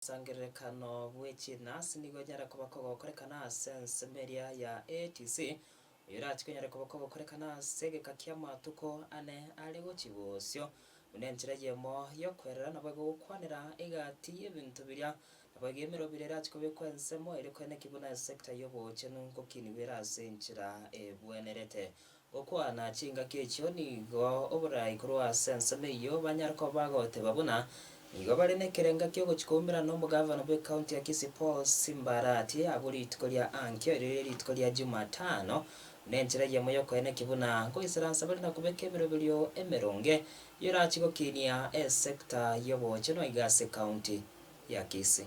Omosangererekano bwe chinasi nigo onyare koba kogokorekana ase ensemo eria ya ATC, oyorache konyare koba kogokorekana ase egeka ki'amatuko ane are gochia bosio. Buna enchera eyemo y'okoerera naboigo gokwanera egati y'ebinto biria, naboigo emerobera erache kobekwa ensemo ere kwene ki buna esector y'obochenu ngokinigwera ase enchera ebwenerete. Gokwana chingaki echio nigo oboraai korwa ase ensemo eyio banyare koba bagoteba buna nigo bare nekerenga kiogochia koumerana n'omogavana bw'ecounty ya Kisii Paul Simbarati agwo rituko ria ankio erio rire rituko ria Jumatano buna enchera eyemo yokoeneki buna nkoisaransa bare nakobeka ebiroberio emeronge biorachie gokinia esector y'obochenu aiga ase ecounty ya Kisii.